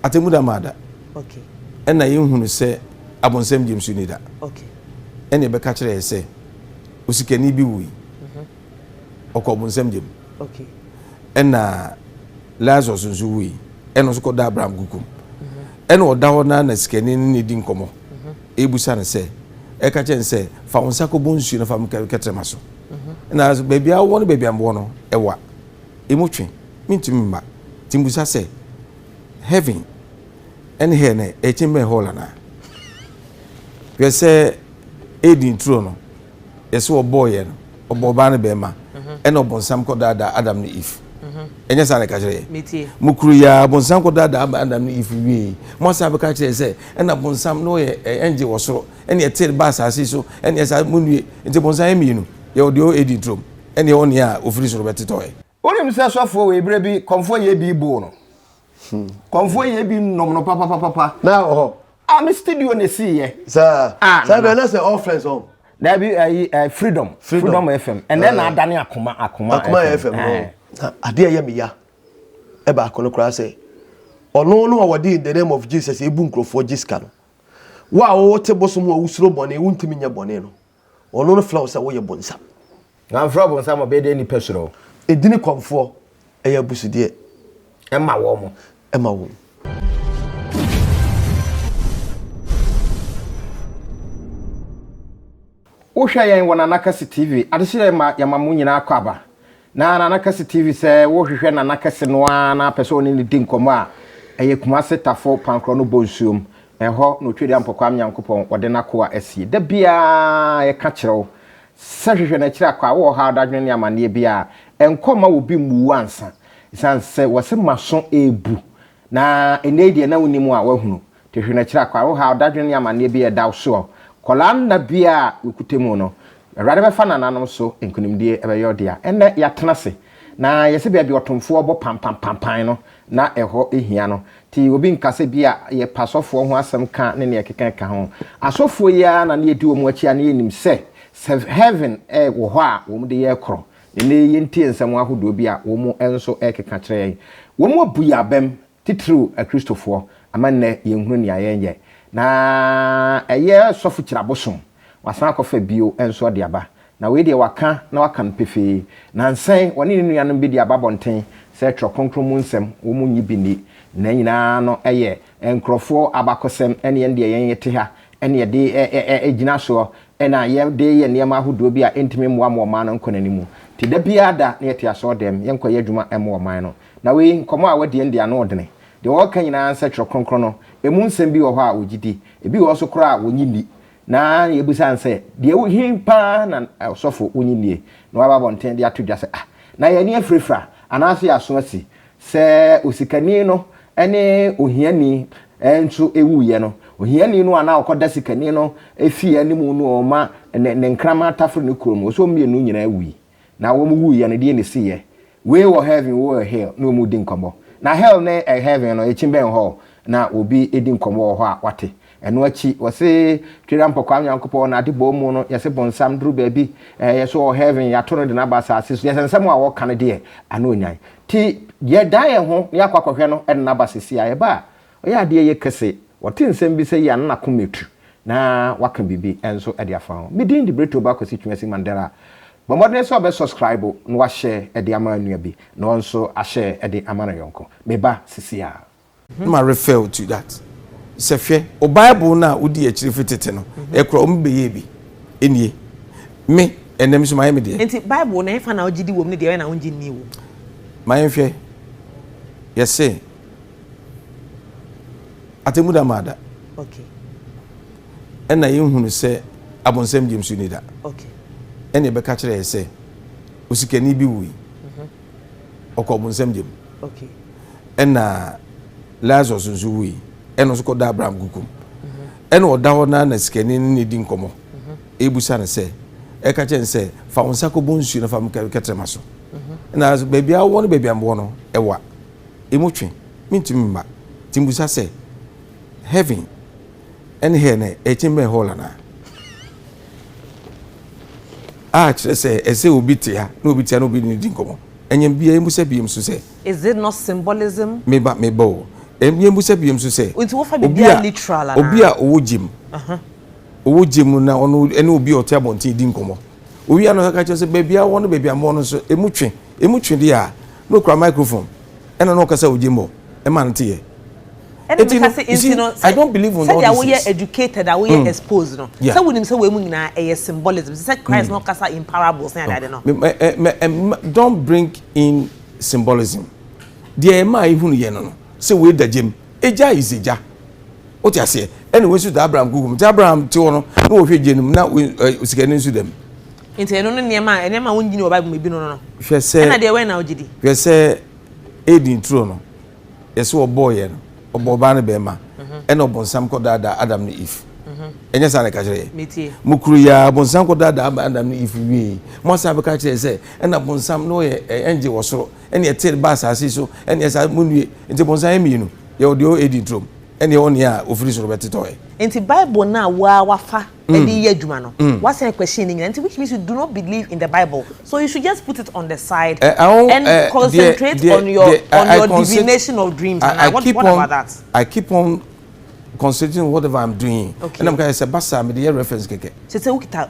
Atemmu da maa da. Ɛnna yɛhunu sɛ abonsam gyem so nni da. Ɛnna ɛbɛka kyerɛ yɛ sɛ osikani bi wui. Mhm. Ɔkɔ abonsam gyem. Ɛnna Lazarus nso wui. Ɛnna nso kɔda Abraham kukum. Mhm. Ɛnna ɔda hɔ na na sikani no ne di nkɔmmɔ. Mhm. Ebusa no sɛ ɛka kyerɛ no sɛ fa wo nsa kɔbɔ nsuo no fa kɛtrɛma so. Ɛnna baabi a wɔ no baabi a wɔ no ɛwa. emu twe, mintumi mma. Ntsi mibisa sɛ, Heaven ne hɛl no ekyen bɛn hall anaa? Hwɛ sɛ Eden turo no, yɛse wɔbɔɔ yɛn no, ɔbɔ ɔbaa ne bɛrima, ɛna ɔbonsam kɔdaadaa Adam ne Eve. Ɛnyɛ saa na ɛka kyerɛ yɛ? Mo kuro yi ara, bonsam kɔdaadaa Adam ne Eve wiei. Mo asan bɛka kyerɛ yɛ sɛ, ɛna bonsam na ɔyɛ angel wɔ soro, ɛna ɛteer baa asase so, ɛna ɛsa, monnue. Ntsi bonsam yɛ mmienu, yɛwɔ deɛ ɔwɔ Eden turom, ɛnneɛ wo nne a ɔfiri soro bɛtetɔ ɛ. Wonim sɛ sɔfoɔ wei berɛ bi kɔmfoɔ yɛ bi boo no? Kɔmfoɔ yɛ bi nom no papapapapa. Na wɔ hɔ. Ah me studio na ɛsiiɛ. Saa, ah, saa bɛn na sɛ all friends ɔn. Daabi ayi uh, eh, freedom. freedom. Freedom FM. Ɛnɛ na adane akoma akoma. Akoma FM. Eh. Na adeɛ yɛ me ya. Ɛbaako no koraa sɛ ɔno no a wɔde in the name of Jesus ebu nkurɔfoɔ gye sika no. Wo a wote bosom a wosuro bɔne wontumi nyɛ bɔne no. Ɔno no frɛ wo sɛ woyɛ bonsam. Wamfrɛ wo bonsam ɔbɛyɛ dɛn nipa suro wo. Edini kɔmfoɔ ɛyɛ abusudeɛ. Ɛma wɔn. Ɛma wɔn. Wohwɛ yɛn wɔ Nanakɛse TV, adehyeɛ yɛma mo nyinaa akɔ aba. Na Nana Kɛse TV sɛ wo hwehwɛ Nana Kɛse no ara na pɛ sɛ ɔne no di nkɔmmɔ a, ɛyɛ Kumase Tafo Pankorɔ no Bonsuom, ɛhɔ na Otwedeɛ Ampɔkwam Nyankopɔn ɔde n'akoa asie. Da biara yɛka kyerɛ wo sɛ hwehwɛ no akyiri akɔ a wowɔ ɔhaw, dadwene ne amanneɛ biara a, nkɔ mma obi mmu wo ansa. Ɛsiane sɛ wɔse m'aso rebu na ɛnnɛ yi deɛ na wonim a woahunu. Hwehwɛ no akyiri a, kwa, ɔhaw, dadwen ne amanneɛ bi a ɛda wo soɔ. Kɔlaa nna bi a wokutɛ mu no, Awurade bɛfa nananom so nkonimdie ɛbɛyɛ ɔdea. Ɛnnɛ yɛatena ase, na yɛsɛ baabi a ɔtomfoɔ bɔ pampampampaan no, na ɛhɔ hia no. Te obi nka sɛ bi a yɛpɛ asɔfoɔ ho asɛm ka ne nea ɛkeka ɛka ho. Asɔfoɔ yi ara na na yɛdi wɔn akyi a na yɛnim sɛ sɛ heaven wɔ hɔ a wɔn de yɛ korɔ. Ɛnnɛ yi yɛntie nsɛm ahodoɔ bi a wɔn nso ɛrekeka kyerɛ yɛn. Wɔn abu yɛn abam titiriw Akristofoɔ, ama nnɛ yɛnhunu nea yɛnyɛ, na ɛyɛ sɔfo kyiri abosom, wasan akɔfa bio nso de aba, na wei deɛ waka na waka no pefee, nansa yi ɔne ne nuanom bi de aba abɔnten sɛ Twerɛ Kronkron mu nsɛm wɔn nnye bi nni, na nyinaa no yɛ nkurɔfoɔ abakɔsɛm, ɛne yɛn deɛ yɛn yɛte ha ne yɛde gyina soɔ na yɛde yɛ nneɛma ahodoɔ bi a ɛntumi mmoa ma ɔman no nkɔ n'anim, nti da biara da na yɛte asɔɔdɛm, yɛnkɔyɛ adwuma mmoa ɔman no. Na wei, nkɔmmɔ a wɔadi ɛnde ano ɔdene. Deɛ wɔreka nyinaa nsɛ Twerɛ Kronkron no, emu nsɛm bi wɔ hɔ a wɔgye di, ebi wɔ hɔ nso koraa a wɔnnye nni. Na yɛbisa no sɛ, Deɛ wo, he pa ara na ɔsɔfo wonnye nnie? Na waba abɔnten de ato dwa sɛ, Ah, na yɛn ani afirafira, anaasɛ yɛn aso asi, sɛ osikani no ne ohiani nso wuiɛ no, ohiani no a na ɔkɔda sikani no fie anim no, ɔma ne, ne nkraman tafere ne kuro no, ɔsɛ wɔn mmienu nyinaa wui. Na wɔn wuu yɛ no deɛ na esi yɛ. Wei wɔ heaven wei wɔ hell na wɔn di nkɔmɔ. Na hell ne eh heaven no ekyi bɛn hɔ na obi edi nkɔmɔ wɔ hɔ a wate. Ɛno akyi wɔse Twera Mpɔkwaa Nyankopɔn na ade bɔɔ mu no yɛse bonsam duru baabi eh yɛ so wɔ heaven yato no de no aba asaase so yɛse nsɛm a wɔka no deɛ ano nyan. Nti yɛ dan yɛn ho na yɛ akɔ akɔhwɛ no de no aba sesi a yɛba a Ɔyɛ adeɛ yɛ kese. Ɔte nsɛm bi sɛ yi a na n'akoma atu na waka biribi nso de afa ho. Me din de Bretooba Kwasi Twumasi Mandela. Bɔ mmɔdene sɛ ɔbɛ subscribe na wahyɛ de ama nua bi na ɔn nso ahyɛ de ama no yɔnko. Meba sesiaa. Na ma refer to that sɛ hwɛ wo bible no a wodii akyire firi tete no ɛkora wɔn bɛyɛɛ bi nie me ɛnɛ me nso mayɛ me deɛ. Nti bible no ɛfa na wogyedi wɔ mu ne deɛ ɔyɛ na wongye nnii wɔ mu. Ma yɛnhwɛ yɛse. atemmu da maa da ɛna yɛhunu sɛ abonsɛm gyem so ni da ɛne ɛbɛka kyerɛ yɛ sɛ osikani bi wui mhm. ɔkɔ abonsɛm gyem ɛna lazarus nso wui ɛna nso kɔda abraham kukum mhm. ɛna ɔda hɔ na na sikani ne ne di nkɔmmɔ mhm. ebusa no sɛ ɛka kyɛn sɛ fa wɔn nsa kɔbɔ nsuo na fa wɔn kɛtɛrɛma so ɛna baabi a wɔn no baabi a wɔn no ɛwa. emu twe, mentumi mma. Nti mibisa sɛ, Heaven ne hell no ɛkyen bɛn hall anaa? A kyerɛ sɛ ɛsɛ sɛ obi te ha na obi te ha na obi ne no di nkɔmmɔ. Ɛnyɛ bia yɛmmusa biom nso sɛ. Is it not symbolism? Meba, meba o. Ɛnyɛ bia yɛmmusa biom nso sɛ. Nti wofa biribiara literal anaa? Obi a ɔwɔ gya mu, ɔwɔ gya mu na ɔno ne obi a ɔte abɔnten redi nkɔmmɔ. Owia no ɔka kyerɛ sɛ baabi a ɔwɔ no baabi a mowɔ no nso emu twe. Emu twe deɛ a, Na okura microphone ɛna na ɔkasa ogye mbɔ ɛma no teyɛ. Ɛna mi ka sɛ nti no sɛ sɛdeɛ awoyɛ educated awoyɛ mm. exposed no yeah. sɛ wonim sɛ wɔn mu nyinaa ɛyɛ symbolism sɛ Christ mm. na ɔkasa in parables ne adeade no. Eh, eh, eh, don't bring in symbolism deɛ ɛma ehunu yɛ no no sɛ wei da gyem egya is egya. Wote aseɛ? Ɛna wɔn nso da Abraham kuku mu. Nti Abraham te hɔ no, na wɔhwɛ gye no mu, na osikani nso da mu. Nti ɛno ne nneɛma a nneɛma a wɔn gyini wɔ Bible mu ebi no no. Hwɛ sɛ. Ɛna deɛ wɛn na ɔgye di. Hwɛ sɛ Eden turo no, yɛsɛ wɔbɔɔ yɛ no, ɔbɔ ɔbaa ne bɛrima, mhm. ɛna ɔbɔnsam kɔ daadaa Adam ne Eve. Mhm. Ɛnyɛ saa na ɛka kyerɛ yɛ. Mo kuro yi a bɔnsam kɔ daadaa Adam ne Eve wie. Mo asan bɛka kyerɛ sɛ ɛna bɔnsam na ɔyɛ ɛngye wɔ soro, ɛna ɛte ba asase so, ɛna ɛsa mo nue. Nti bɔnsam yɛ mmienu, yɛ ɔdeɛ Eden turo mu. ɛnneɛ wo nea ɔfiri soro bɛtetɔ ɛ. Nti bible no a wo ara wafa de reyɛ adwuma no wasan question ne nyinaa nti which means you do not believe in the bible so you should just put it on the side and concentrate on your on your divination of dreams and I, what, what about that? I keep on concentrating on whatever I'm doing okay. ɛna meka sɛ basa mede yɛ reference kɛkɛ. Sɛ sɛ wokita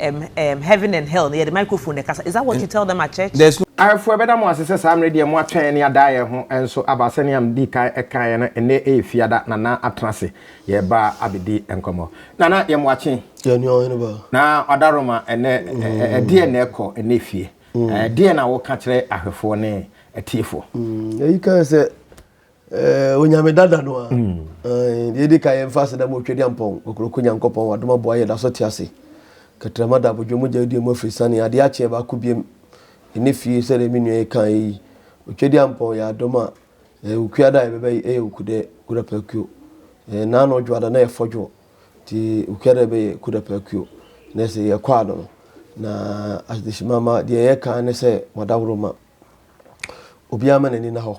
um, um, heaven and hell no yɛde microphone na ɛkasa is that what you tell them at church. There's no. Ayefo ɛbɛda mo ase sɛ saa mmerɛ deɛ moatwɛn ne adaeɛ ho nso aba sɛnea mdii kan ɛkaeɛ no ɛnnɛ ɛyɛ fiada Nana atena ase yɛreba abɛdi nkɔmmɔ Nana yɛ moakye Yɛnua ɔhene ba. na ɔda Roma ɛnnɛ ɛdeɛn na ɛkɔ ɛnnɛ fie ɛdeɛn na woka kyerɛ ahwɛfoɔ ne atiefoɔ. Ɛyi kae sɛ Eh, onyame dada no a mm. eh, deɛ ɛdi ka yɛmfa aseda mu ɔtwadi ampɔn kokoroko nyankopɔn wadom aboa yɛ da so te ase katrama da abodwo mogya adua mu afiri sane adeɛ akyeɛ baako biam ɛne fie sɛdeɛ me nua yi ka yi ɔtwadi ampɔn yɛ adom a eh, wokua da a yɛbɛbɛ yi ɛyɛ wokudɛ kuda paakuo eh, na na ɔdwo ada na yɛfɔ dwoɔ nti wokua da ɛbɛyɛ kuda paakuo na ɛsɛ yɛkɔ ano no na adehyemama deɛ yɛka ne sɛ wadaworo ma obiara ma n'ani na hɔ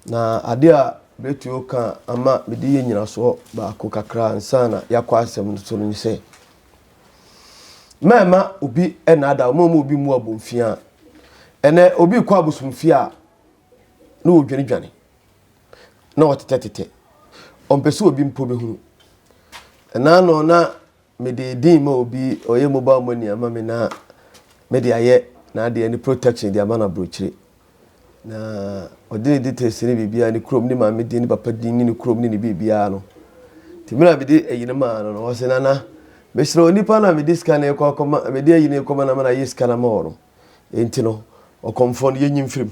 Na ade a mɛtumi aka ama mede yɛ nyinasoɔ baako kakra ansa na yɛakɔ asɛm no so no ne sɛ mɛma obi ɛnaada wɔn a obi mu abomfia a ɛnɛ obi kɔ abosomfie a na wɔdwanedwane na wɔtetɛtetɛ ɔmpɛ sɛ obi mpo bɛhunu ɛnaa no na Mede din ma obi, ɔyɛ mobile money ama me na mede ayɛ n'adeɛ ne protection de ama no aburokyire. Na ɔde ne details ne biribiara, ne kurom, ne maame din, ne papa din, ne ne kurom, ne ne biribiara no. Nti mmerɛ a mede ayi no maa no no, ɔse Nana, mesrɛ wo, nipa no a mede sika no rekɔ akɔma, mede ayi no rekɔma no ama no ayɛ sika no ama wo no, enti no, ɔkɔmfoɔ no, yɛnyi mfiri mu.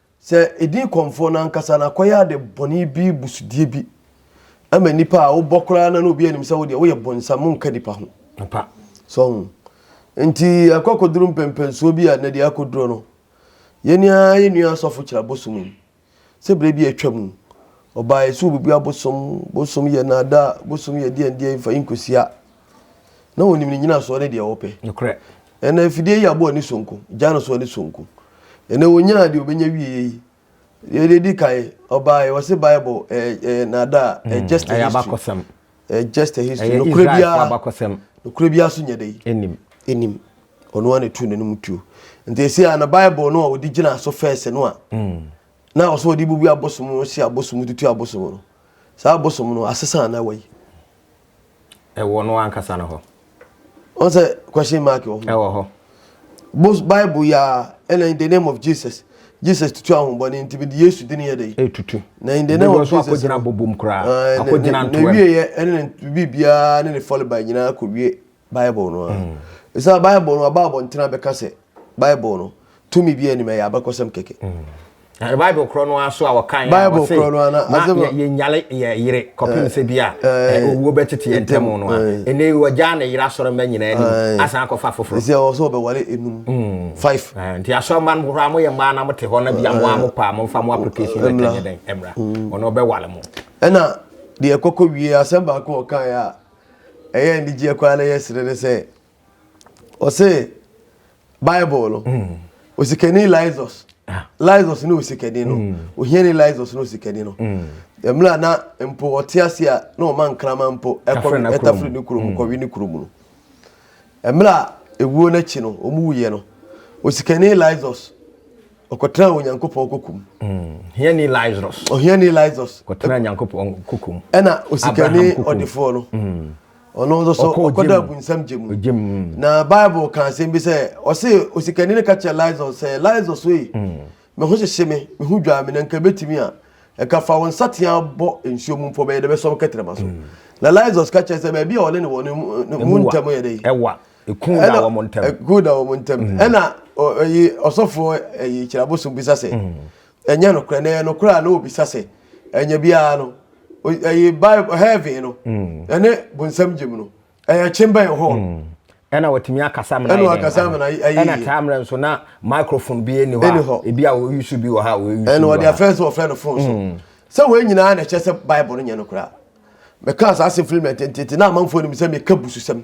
Sɛ edin kɔmfoɔ no ankasa na akɔyɛ ade bɔne bi busudeɛ bi ma nipa a wobɔ koraa na na obi anim sɛ wodeɛ woyɛ bonsam monka nipa ho. Papa. So ho. Nti akɔ akɔduru mpɛmpɛnsoɔ bi a na deɛ akɔduro no yɛni a yɛ nua asɔfo kyerɛ abosom yi sɛ berɛ bi atwa mu ɔbaa yɛ sɛ obubu abosom bosom yɛ naada bosom yɛ deɛndeɛ mfa yi nkɔsia na onim ne nyinasoɔ ne deɛ wɔpɛ. Nokorɛ. Ɛna afidie yi abɔ ani sonko, gya no so ani sonko. Ɛna ɔnyaa deɛ ɔbɛnya wieɛ yi. Deɛ deɛ di kan, ɔbaeɛ, wɔse Bible ɛyɛ ɛyɛ naadaa, ɛyɛ hmm, just a history. Ɛyɛ abakɔsɛm. Ɛyɛ just a history. Ɛyɛ Israelfo abakɔsɛm. Nokorɛ biara so nyɛ dɛ. Ɛnim. Ɛnim. Ɔno a na ɛtu n'anim tuo. Nti ɛsi a na Bible no a wɔde gyina so fɛɛsɛ no a, hmm. na ɔsɛ wɔde bubu abosom no, hyɛ abosom, tutu abosom no. Saa abosom no, asesa na wayi. ɛwɔ no ankasa no hɔ. Wọn sɛ question mark wɔ ho. Ɛwɔ hɔ. Bos Bible yi ara ɛna in the name of Jesus Jesus tutu ahombɔne nti mede Yesu dini yɛ dɛ. Etutu. Na in the name of Jesus. Akɔ gyina bobom koraa. Akɔ gyina ntoa. Na wie yɛ ɛne ne biribiara ne ne fɔleba nyinaa kɔ wie. Bible no ara. Ɛsiane Bible no aba abɔntene abɛka sɛ Bible no tumi bi anim ɛyɛ abakɔsɛm kɛkɛ. Na Bible korɔ no ara so a wɔka yɛ a wɔse na yɛnyale yɛ yere kɔpem sɛ bi a owuo bɛtete yɛ ntam no a ɛnɛ wɔgyaa ne yere asɔre mma nyinaa anim asan akɔfa foforɔ. Ɛsɛ ɔwɔ sɛ wɔbɛwale enum five. Nti asɔre mma no horaa moyɛ mmaa na mote hɔ na bi a mo a mo paa mo mfa mo application letter nyɛ dɛn mmra ɔno ɔbɛwale mo. Ɛna deɛ ɛkɔkɔ wie asɛm baako ɔkaeɛ a ɛyɛ anigyeɛ koraa na ɛyɛ sene ne sɛ ɔse bible no mm. osikani lysos ah. lysos ne osikani no mm. ohiani lysos ne osikani no mm. mmerɛ a na mpo ɔte ase a na ɔma nkrama mpo ɛtafiri ne kurom kɔwe ne kurom no mmerɛ a ɛwuo no akyi no ɔmu wuyɛ no osikani lysos Ɔkɔtenaa Onyankopɔn koko mu. Mm, hiani Lazarus. Ɔhiani Lazarus. Ɔkɔtenaa Onyankopɔn koko mu. Ɛna osikani ɔdefoɔ no. Mm. Ɔno nso so ɔkɔda abunsam gye mu. Mm. Na Bible ka asɛm bi sɛ ɔse osikani no ka kyerɛ Lazarus sɛ Lazarus wei. Mm. Me ho hyehye me, me ho dwaa me na nka betumi a ɛka fa wo nsatea bɔ nsuo mu mpɔ bɛyɛ dɛ bɛsɔm kɛtɛrɛma so. Mm. Na Lazarus ka kyerɛ sɛ baabi a ɔne ne wɔ no mu ntam yɛ dɛ. Ɛwa. Eku da wɔn ntam. Eku da wɔn ntam. Mm. Ɛna ɛyi ɔsɔfoɔ ɛyi kyerɛbosom bisa sɛ. Mm. Ɛnyɛ nokorɛ na ɛyɛ nokorɛ a na obisa sɛ ɛnyɛ biara no ɛyi bible heaven no mm. ɛne bonsam gyem no ɛyɛ kyembɛn hɔ. ɛna wɔtumi akasa mena ɛna akasa mena ɛyi ɛna taa mmerɛ nso na microphone bi ɛni hɔ a ebi a wɔyi so bi wɔ ha wɔyi so bi wɔ ha ɛna wɔde afɛn so wɔfrɛ no phone so sɛ wɔn nyinaa na ɛkyɛ sɛ bible no nyɛ nokorɛ a mɛka saa asɛm firi mɛ tententen na amanfoɔ nim sɛ meka bususɛm.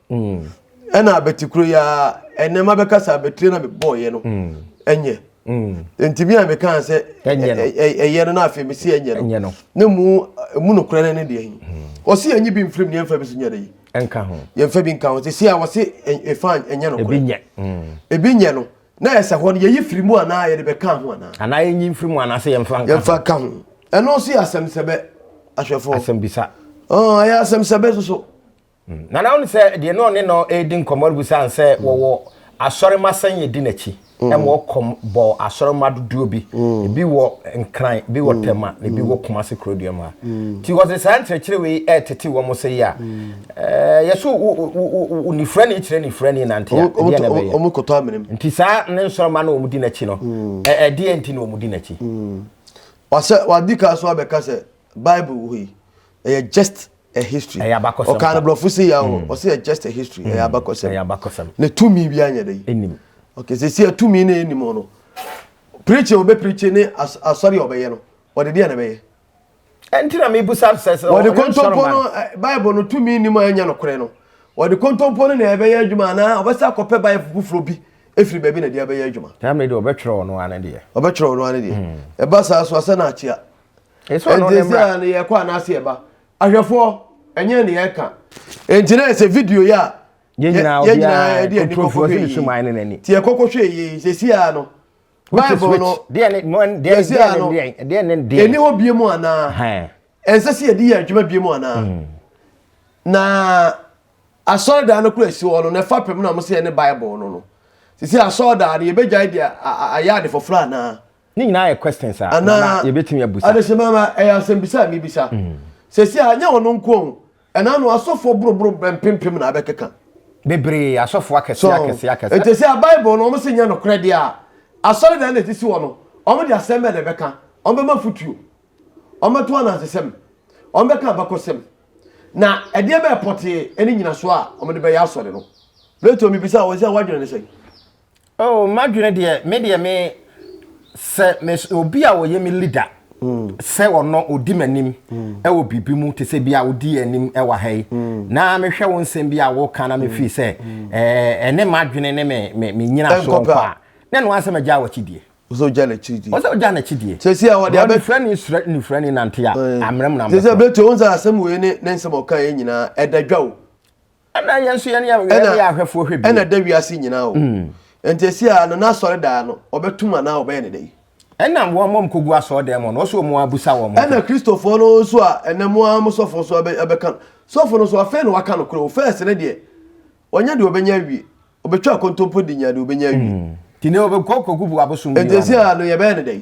Mm. ɛna abɛte kuro yi ara ɛnɛ ma bɛkasa abɛtire na mebɔɔyɛ no mm. ɛnyɛ mm. nti bi a mekaa sɛ ɛyɛ no na afei mesi ɛnyɛ no na mu mu nokorɛ no ne deɛ yi ɔse yɛnye bi mfirim ne yɛmfa bi so nyɛ no yi ɛnka ho yɛmfa bi nka ho sɛ si a wɔse ɛfa ɛnyɛ nokorɛ ebi nyɛ no na ɛsɛ hɔ no yɛyi firi mu anaa yɛde bɛka ho anaa anaa yɛnyi mfiri mu anaa sɛ yɛmfa nka yɛmfa ka ho ɛno nso yɛ asɛm sɛbɛ ahwɛfoɔ asɛm bisa ɛyɛ asɛm sɛbɛ soso Na na ɔno sɛ deɛ na ɔne no redi nkɔmmɔ rebisa no sɛ wɔwɔ asɔremma sɛn yɛdi n'akyi ɛma ɔkɔm bɔɔ asɔremma dodoɔ bi ebi wɔ nkran bi wɔ tɛma na ebi wɔ kumase kurodua mu ha nti wɔde saa nkyerɛkyerɛ wei ɛretete wɔn sɛ yi a ɛɛ yɛso onifura ne kyerɛ nifura ne nante a ɛdeɛ na ɛbɛyɛ wɔn kɔtɔ amenem nti saa ne nsɔrɔmma na wɔn di n'akyi no ɛdeɛ nti na wɔn di n'akyi wasɛ wadi kan so abɛka sɛ bible wɔ yi ɛyɛ just a history ɛyɛ abakɔsɛm ɔkaa no borɔfo se yɛ hɔ ɔsɛ yɛ just a history ɛyɛ abakɔsɛm ɛyɛ abakɔsɛm ne tumi bi anyɛ dɛ ɛnim okay sɛ si atumi ne ɛnim hɔ no preaching ɔbɛ preaching ne asɔre a ɔbɛyɛ no ɔde deɛ na ɛbɛyɛ ɛnti na mebusa sɛ sɛ ɔde kontompo no bible no tumi nim a ɛnyɛ nokorɛ no ɔde kontompo no na ɛbɛyɛ adwuma anaa ɔbɛsɛ akɔpɛ bible foforɔ bi ɛfiri baabi na ɛde abɛyɛ adwuma ɛmɛ deɛ ɔbɛtwerɛ ɔno ano deɛ ɔbɛtwerɛ ɔno ano deɛ ɛba saa so asɛ no akyea Yesu ano ne mmra. Ɛnti sɛ yɛkɔ anaasɛ yɛba. Ahwɛfoɔ, ɛnyɛ ne yɛka. Ɛnti na ɛsɛ video yi a yɛn nyinaa yɛn nyinaa yɛde ani kɔkɔ hwɛ yie. Ti yɛ kɔkɔ hwɛ yie sɛsi a no. Bible no sɛsi a no ɛni hɔ bie mu anaa. Ɛnsɛ sɛ yɛde yɛ adwuma bie mu anaa. Mm. Na asɔredan no kura si hɔ no na ɛfa pɛm na wɔn sɛ yɛne Bible no no. Sisi asɔredan no yɛbɛgyae de ayɛ ade foforɔ anaa. Ne nyinaa yɛ questions a na na yɛbɛtumi abusa. Adehyema ma ɛyɛ asɛmbisa a mebisa. Mm. Sɛsi a nyɛ ɔno nko o. Ɛna no asɔfoɔ boroboro mpempem na abɛkeka. Bebree, asɔfoɔ akɛseɛ akɛseɛ akɛseɛ. Nti sɛ Bible no wɔn se nyɛ nokorɛ deɛ a, asɔredan na ɛsisi hɔ no, wɔn de asɛm bɛn na ɛbɛka? Wɔn bɛma afotuo? Wɔn bɛto anansesɛm? Wɔn bɛka abakɔsɛm? Na ɛdeɛ bɛyɛ pɔtee ne nyinasoɔ a wɔn de bɛyɛ asɔre no? Plato mebisa wɔn sɛ wɔadwene ne sɛn? Oh madwene deɛ me deɛ me sɛ me obi a ɔyɛ me leader sɛ ɔno odi m'anim ɛwɔ biribi mu te sɛ bi a odi anim ɛwɔ ha yi na mehwɛ wo nsɛm bi a wɔka na mefii sɛ ɛne madwene ne me me me nyina so nkɔ a na ɛno asɛ magya wɔkyi die ɔsɛ ɔgya n'akyi die ɔsɛ ɔgya n'akyi die sɛsi a wɔde abɛ nifura ni sura nifura ni nante a amena mu na mbɛ sɛsi a bɛtɔ wɔn sɛ asɛm wei ne ne nsɛm ɔka yɛ nyinaa ɛda dwa o ɛna yɛn nso yɛne yɛn yɛne yɛn ahwɛfoɔ hwɛ bi ɛna da wiase nyinaa o mm. nti esi a no n'asɔre daa no ɔbɛtum anaa ɔbɛyɛ ne dɛ ɛna wɔn mɔm kɔ gu asɔre dɛm no ɔsɛ wɔn abusa wɔn ɛna kristofoɔ no nso a ɛnɛ mo ara mo sɔfo nso ɛbɛka sɔfo no nso afei na waka no korɔ o fɛs ne deɛ ɔnyɛ deɛ ɔbɛnya awie ɔbɛtwa akontompo de nya deɛ ɔbɛnya awie mm. ti ne ɔbɛkɔ kɔgu bu abosom bi nti esi a no yɛbɛyɛ ne dɛ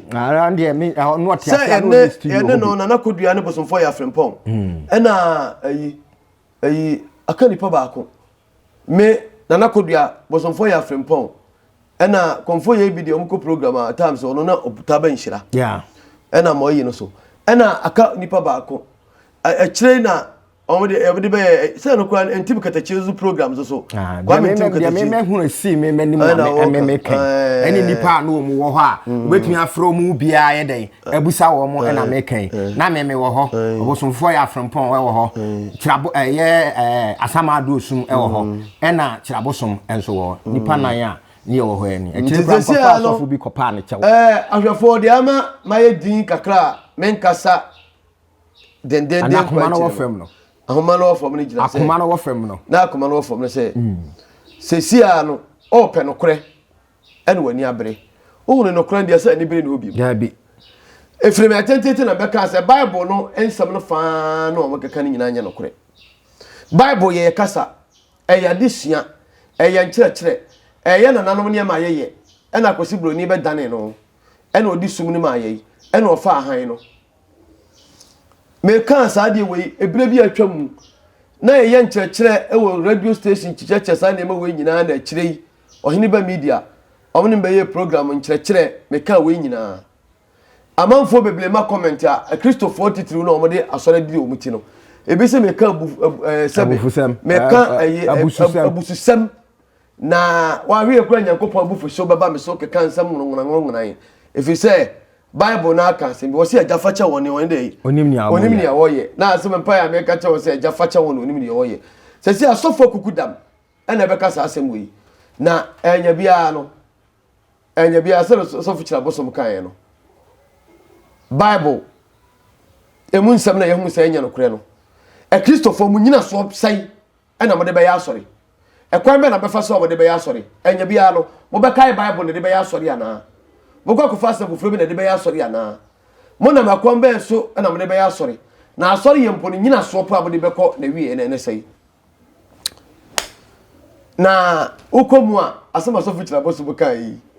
sɛ ɛne ɛne no nana kodua ne bosomfoɔ yɛ afrempɔn hmm. ɛna ayi ayi aka nipa baako me nana kodua bosomfoɔ yɛ afrempɔn ɛna kɔnfoɔ yɛ bi deɛ ɔmo kɔ program a times ɔno na ɔbuta bɛ nhyira ɛna ma ɔyi no so ɛna aka nipa baako akyire na. wɔn de ɛbi de bɛyɛ ɛ- sɛ no koraa ntim katakyire so programs so Ah, deɛ kwame me- ntim me- deɛ katakyire memɛhunu ɛsii me m'anim Ɛna na wɔka. meme kɛn Ɛɛ. ɛne nnipa a na wɔn wɔ hɔ a wobɛtumi afrɛ wɔn mu biara yɛ dɛn abusa wɔn mo ɛna mekɛn na meme wɔ hɔ ɔbosomfoɔ yɛ afrempɔn ɛwɔ hɔ kyerabo ɛyɛ ɛɛ asama adoosum ɛwɔ hɔ ɛna kyerabosom ɛnso wɔ hɔ nnipa nan a ne yɛwɔ hɔ ɛni ɛkyerɛ Nti kura sɛsi nkɔfa a no- asɔfo bi kɔpaa ne kyɛw ɛɛ ahwɛfoɔ deɛ ama mayɛ din kakra a menkasa dendenden akoma no wɔ fam no ahoma no wɔ fam no gyina sɛ akoma no wɔ fam no na akoma no wɔ fam no sɛ mm. sɛsi a no ɔɔpɛ nokorɛ ɛne w'ani abere wohunu nokorɛ deɛ sɛ anibere ne hɔ bi daabi ɛfiri me atentete na bɛka sɛ bible no nsɛm no faa na wɔkeka no nyinaa nyɛ nokorɛ bible yɛ yɛ kasa ɛyɛ adesua ɛyɛ nkyerɛkyerɛ ɛyɛ nananom nneɛma yɛyɛ ɛna akwasi buroni bɛdane no ɛna ɔde sum no ma yɛyi ɛna ɔfa ahan no Mekaa saa adeɛ wei ebire bi a atwa mu na yɛyɛ nkyerɛkyerɛ wɔ radio station kyekyɛkyɛ saa nneɛma wei nyinaa na akyire yi ɔhene ba media ɔmo ne bɛyɛ program nkyerɛkyerɛ mekaa wei nyinaa amanfoɔ bebree ma comment a akristofoɔ titiriw na ɔmo de asɔre di ɔmo ti no ebi sɛ meka abu ɛɛ sɛbi meka ɛyɛ abususɛm Na waweɛ koraa Nyankopɔn abufuhyew bɛba me so keka nsɛm nwonwonanwonwonan, ɛfiri sɛ Bible no ara ka asɛm bi, ɔse, Agya fakyɛ wɔn, ɔne dɛn? Onim nea wɔyɛ. Onim nea wɔyɛ. Na asɛm mpaeɛ a meka kyerɛ wo sɛ, Agya fakyɛ wɔn, onim deɛ wɔyɛ. Sɛsɛ asɔfo akukudam ɛna ɛbɛka saa asɛm wei. Na ɛnya biara no, ɛnya biara sɛ sɔfo kyerɛ abosom kaeɛ no, Bible ɛmu nsɛm na yɛhu sɛ ɛnyɛ nokorɛ no, Akristofoɔ mo nyinasoɔ sɛe na mode bɛyɛ asɔre? Ɛkwan bɛn na mobɛfa so a mode bɛyɛ asɔre? Ɛnyɛ biara no, mobɛkae Bible na ɛde bɛyɛ asɔre anaa? Mokɔ akɔfa asɛm foforɔ bi na ɛde bɛyɛ asɔre anaa? Monam ɛkwan bɛn so na mode bɛyɛ asɔre? Na asɔre yɛ mpo no nnyinasoɔ po a mode bɛkɔ na wie na ɛne sɛe? Na wokɔ mu a, asɛm asɔfo gyina bɔ so bɛka yi.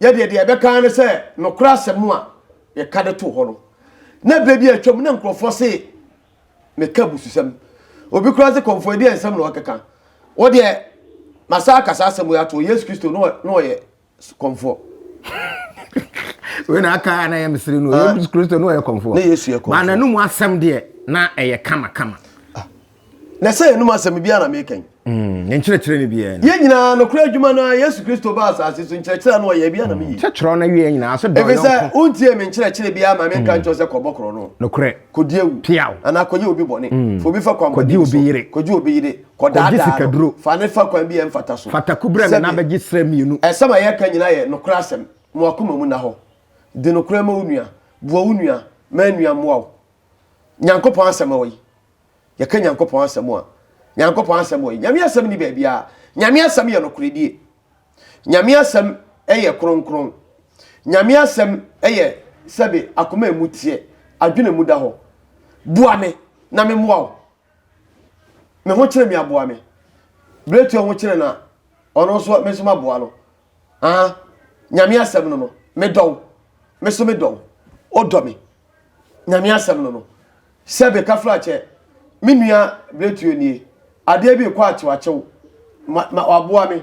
yɛ deɛ deɛ ɛbɛka ara ne sɛ nokorɛ asɛm a yɛka de too hɔ no na berɛ bi atwam na nkurɔfoɔ se meka abususɛm obi koraa se kɔmfoɔ ɛdeɛ nsɛm na ɔkeka wɔ deɛ masa aka saa asɛm yi ato yesu kristo na ɔyɛ kɔmfoɔ wei na aka a na ɛyɛ mesere no ah. yesu kristo na ɔyɛ kɔmfoɔ na yesu yɛ kɔmfoɔ ma n'anum asɛm deɛ na ɛyɛ kama kama ah. na sɛ yɛnum asɛm biara na meka yi. Mm, ne nkyerɛkyerɛ no biara no. yɛn nyinaa nokorɛ adwuma no a yesu kristo baa asase so nkyerɛkyerɛ no ɔyɛ biara na meyi. sɛ kyerɛw no awie nyinaa sɛ dɔn yɔnko. sɛ wontie me nkyerɛkyerɛ biara ma menka mm. nkyerɛ sɛ kɔbɔ korɔ no. nokorɛ. kɔdi awu. piaw. anaa kɔyɛ obi bɔne. Mm. fa obi fa kwan bɔne obi yere. kɔgye obi yere. kɔdaadaa no. fa ne fa kwan bi yɛ mfata so. fatako brɛ me na bɛgye serɛ mmienu. ɛsɛm a yɛka nyinaa yɛ nokorɛ asɛm. Mo akoma mu nna hɔ. Di nokorɛ ma wo nua. Boa wo nua. Ma nua mmoa wo. Nyankopɔn asɛm wɔ yi. yɛka nyankopɔn asɛm a nyankopɔn asɛm wɔ yi nyame asɛm ni baabiaa nyame asɛm yɛ nokoredie nyame asɛm yɛ kronkron nyame asɛm yɛ sɛbe akoma emu teɛ adwene mu da hɔ boa me na me mmoa wo me ho kyerɛ me aboa me berɛtua ho kyerɛ na ɔno nso me nso maboa no Ah, nyame asɛm no no, medɔ wo, me so medɔ wo, wodɔ me. Nyame asɛm no no, sɛ beka firi akyɛ, me nua Bretuo nie, adeɛ bi rekɔ akyewakyew, ma, ma waboa me,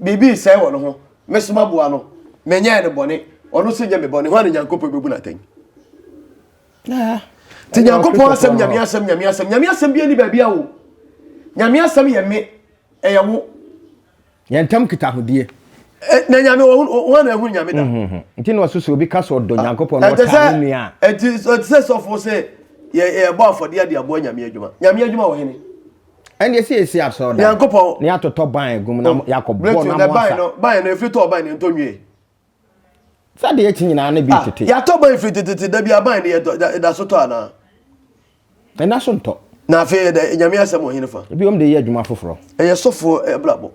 biribi resɛe wɔ ne ho, me so maboa no, menyɛɛ no bɔne, ɔno nso nyɛ me bɔne, hwan na Nyankopɔn bɛbu no atɛn? Ah. Nti Nyankopɔn asɛm, nyame asɛm, nyame asɛm, nyame asɛm bi ani baabi a o. Nyame asɛm yɛ me, ɛyɛ wo. Yɛn ntam kitahodie. Eh, na nyame wɔn na ɛhunu nyame da mhm, mhm. nti na ɔsoso obi ka sɛ ɔdɔ ah, nyankopɔn na ɔtaa ne nua ɛti sɛ sɔfo sɛ yɛbɔ afɔdeɛ ade aboa nyame adwuma nyame adwuma wɔ hene ɛndeɛ sɛ yɛsi asɔre da nyankopɔn ne yɛatotɔ ban agum na oh, yɛakɔbɔ na moasa ban no ɛfiri tɔ ban no ɛntɔ nwie sɛ deɛ akyi nyinaa ne bi tete. yɛatɔ aban firi tetete da bi aban ne ɛda so tɔ anaa ɛna so ntɔ na afei ɛdɛ nyame asɛm wɔ hene fa ebiom de yɛ adwuma foforɔ ɛyɛ sɔfoɔ abrabɔ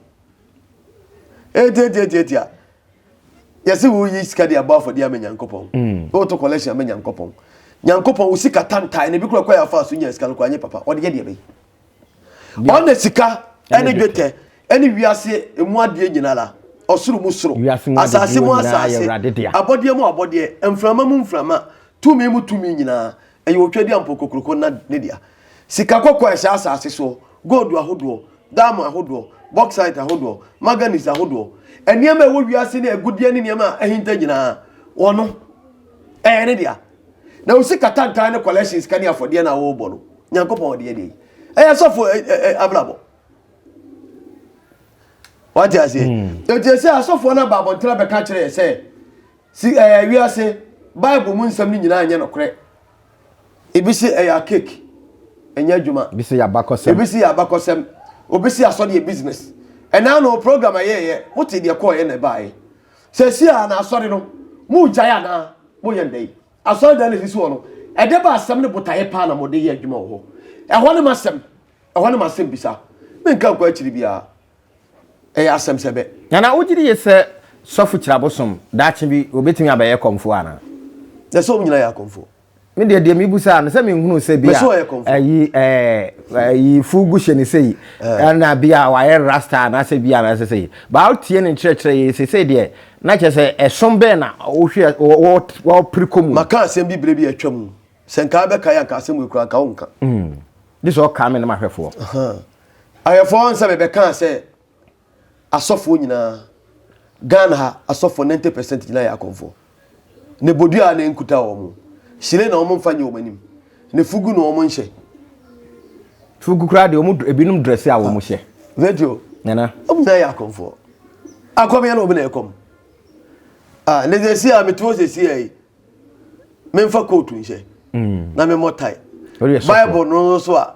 ɛtiatiatiatia yɛse wo yi sika de abɔ afɔdeɛ ama nyankopɔn mm. woto collection ama nyankopɔn nyankopɔn wo sika tantae na ebi kora kɔ yɛ afa so nya sika no kora nyɛ papa ɔde yɛ deɛ bɛyi ɔne sika ne dwetɛ ne wiase mu adeɛ nyinara, ɔsoro mu soro, asase mu asase, abɔdeɛ mu abɔdeɛ, mframa mu mframa, tumi mu tumi nyinaa, ɛyɛ Otwadiampɔ Kokuroko na ne dea. Sika kɔkɔɔ a ɛhyɛ asase soɔ, gold ahodoɔ, diamond ahodoɔ, bauxite ahodoɔ, manganese ahodoɔ, nneɛma a ɛwɔ wiase ne agudeɛ ne nneɛma a ahinta nyinaa, ɔno, ɛyɛ ne dea. na wo sika tantan ne collection sika ne afɔdeɛ na wɔrebɔ no nyankopɔn ɔdeɛ deɛ ɛyɛ sɔfo abrabɔ wate aseɛ ɛti hmm. sɛ asɔfoɔ no aba abɔntena bɛka kyerɛ sɛ si ɛyɛ wiase bible mu nsɛm no nyinaa nyɛ nokorɛ ebi se ɛyɛ akek ɛnyɛ adwuma ebi se yɛ abakɔsɛm ebi se yɛ abakɔsɛm obi se asɔdeɛ business ɛnaa no program ɛyɛɛyɛ wote deɛ kɔɔyɛ na ɛbaeɛ Seesei ara na asɔre no, moregyae anaa? Moyɛ no dɛn? Asɔredan no a esisi hɔ no, ɛde ba asɛm ne botaeɛ paa na mode yɛ adwuma wɔ hɔ. Ɛhɔ ne m'asɛm, ɛhɔ ne m'asɛmbisa. Menka nkɔ akyiri biara. Ɛyɛ asɛm sɛ bɛ. Nana, wogye die sɛ Sɔfo Kyirabosom, daakye bi, obetumi abɛyɛ kɔmfoɔ anaa? Ɛsɛ sɛ wɔn nyinaa yɛ akɔmfoɔ. me deɛ deɛ mebu saa no sɛ menhunu sɛ bi a ayi ayi fugu hyɛ ne sɛ yi ɛna bi a wayɛ rasta anaasɛ bi a anaasɛ sɛ yi baa wotie ne nkyerɛkyerɛ yɛ sɛ sɛ deɛ na kyerɛ sɛ ɛsom bɛn na wohwɛ wɔpere kɔ mu maka asɛm bi berɛ bi atwa mu sɛ nka bɛka yɛ anka asɛm ɛkura nka wo nka de sɛ ɔka me no mahwɛfoɔ ahwɛfoɔ nsɛ mebɛkaa sɛ Asɔfoɔ nyinaa, Ghana ha asɔfoɔ ninety percent nyinaa yɛ akɔmfoɔ. Ne bodua a na enkuta wɔn, hyire na wɔn nfa nyɛ wɔn anim, ne fugu na wɔn nhyɛ. Fugu koraa deɛ wɔn ebinom drɛse a wɔn ah, hyɛ. Virgil, nana, wɔn nyinaa yɛ akɔmfoɔ. Akɔm yɛ na wɔn na ɛkɔm. Ah, ne sɛ si a metu hɔ sɛ si a yi, memfa kootu nhyɛ, mm. na memmɔ tae. Bible no nso a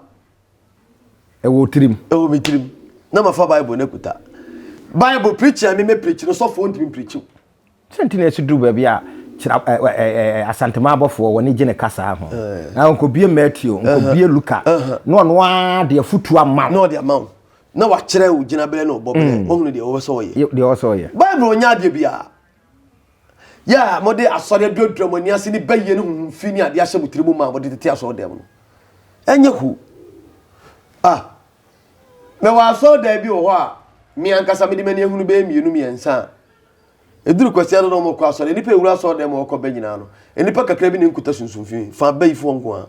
Ɛwɔ wo tirim. Ɛwɔ me tirim. Na mafa Bible no akuta. Bible preaching a meme preach no sɔfoɔ ntumi preach wo. Sɛ nti na ɛsi duru baabi a kyerɛ asantema abɔfoɔ wɔne gye ne kasaa ho. Na nkɔbie Matthew, nkɔbie Luka, na ɔno ara de afutuo ama wo. Na ɔde ama wo. Na wakyerɛ wo gyinaberɛ na ɔbɔ berɛ. Wahunu deɛ ɔwɔ sɛ ɔyɛ. Deɛ ɔwɔ sɛ ɔyɛ. Bible ɔnyɛ adeɛ biara. Yɛ a mode asɔre aduadura mo ani ase ne bayie ne honhom fi ne adeɛ ahyɛ mo tiri mu ma a mode tete asɔredan mu no. Ɛnyɛ hu. Ah, mewɔ asɔredan bi wɔ hɔ a me ankasa mede m'ani ahunu bɛyɛ mmienu mmiɛnsa a ɛduru kwasia no na wɔkɔ asɔre. Nnipa ɛwura asɔredan mu a wɔkɔ bɛ nyinaa no, nnipa kakra bi na ɛnkuta sunsum fi, fa bayifoɔ nko ara.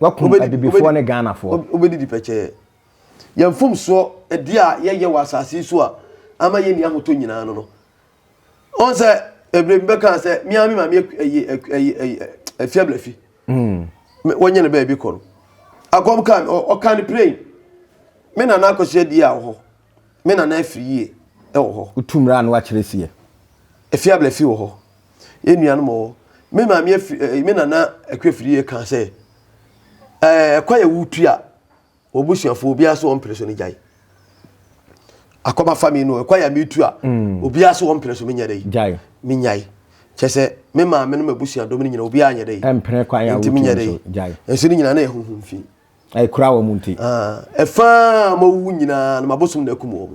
Wakum Abibifoɔ ne Ghanafoɔ. Wobɛdidi pɛkyɛɛ. Yɛn mfomsoɔ, ɛdeɛ a yɛyɛ wɔ asase yi so a ama yɛnni ahotɔ nyinaa no no. Ɔn sɛ ɛberɛ bi bɛkaa sɛ me ara me maame afi ablafi. Wɔnyɛ no baabi kɔ no. Akɔm kaa me, ɔkaa ne plane. Me nana akɔhyɛ di a wɔ hɔ. Me nana afiri yie wɔ hɔ. Wotu mmara a na wɔakyerɛ sie. Afie abla fi wɔ hɔ. Yɛn nuanom wɔ hɔ. Me maame afiri ɛɛ me nana akua afiri yie kaa sɛ ɛɛ ɛkwan a wotu a wɔbusuafoɔ obiara so wɔn mpere so no gyae. Akɔma fa mi no ɛkwan a metu a mm. obiara so wɔn mpere so menyɛ dɛ. Gyae. Menyae. Kyɛ sɛ me maame no m'abusuadɔm no nyina obiara nyɛ dɛ. Ɛmpere kwan a wotu so gyae. Nso ne nyina na ɛhuhum fi. A ɛkura wɔn nti. Ɛfa a wɔawuwu nyinaa no, m'abosom na akum wɔn.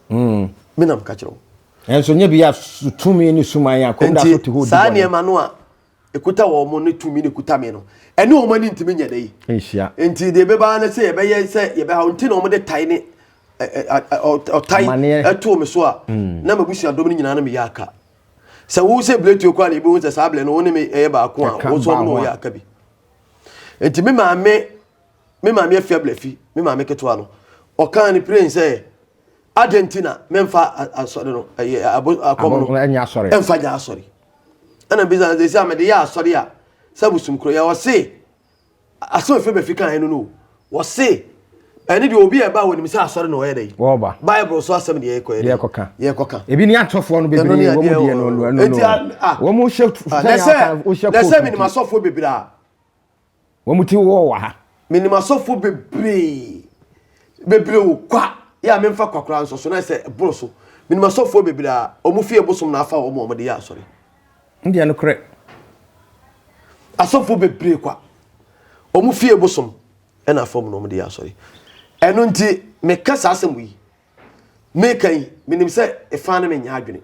Hmm. Me na meka kyerɛ wo. Nanso nyɛ bi a tumi ne suman a kɔm da so te hɔ di saa nneɛma no a ɛkuta wɔn ne tumi ne kuta me no ɛne wɔn ani ntumi nyɛ da yi. Nhyia. Nti deɛ ɛbɛba no sɛ yɛbɛyɛ sɛ yɛbɛha nti na wɔn de tae ne ɔtae ɛtoo me so a hmm. na m'abusua dɔm no nyinaa no meyɛ aka. Sɛ wo sɛ biletuo kora na ɛbɛhu sɛ saa blɛ no wo ne me ɛyɛ baako a wo nso wɔn na wɔyɛ aka bi. nti me maame me maame afia blafi me maame ketewa no ɔkaa ne pirain sɛ adɛn nti na memfa asɔre no ɛyɛ akɔm no ɛmfa nyɛ asɔre ɛna bisa no sɛ a mede yɛ asɔre a sɛ bosom kuro yɛ ɔse asɛm ɛfiri bɛfi kan no no Wɔse ɛne deɛ obi a ɛba a wɔnim sɛ asɔre na ɔyɛ dɛ yi. Wɔba. Bible so asɛm deɛ yɛkɔ yɛ dɛ. Yɛkɔka. Yɛkɔka. Ebi ne atɔfoɔ no bebree wɔn mu deɛ no no no. Eti a a. Wɔn mu hyɛ sɛnea ɔka o hyɛ kootu. Nɛsɛ menim asɔfoɔ bebree a. Wɔn mu ti wɔ wɔ ha. Menim asɔfoɔ bebree bebree o kwa yɛ a memfa kwa koraa nsɔ so na sɛ ɛboro so menim asɔfoɔ bebree a wɔn fie bosom na afa wɔn a wɔde yɛ asɔre. N deɛ nokorɛ. Asɔfoɔ bebree kwa. Wɔn fie bosom ɛna afam na wɔn de yɛ asɔre. Ɛno nti meka saa asɛm yi. Meka yi menim sɛ ɛfaa ne menyɛ adwene.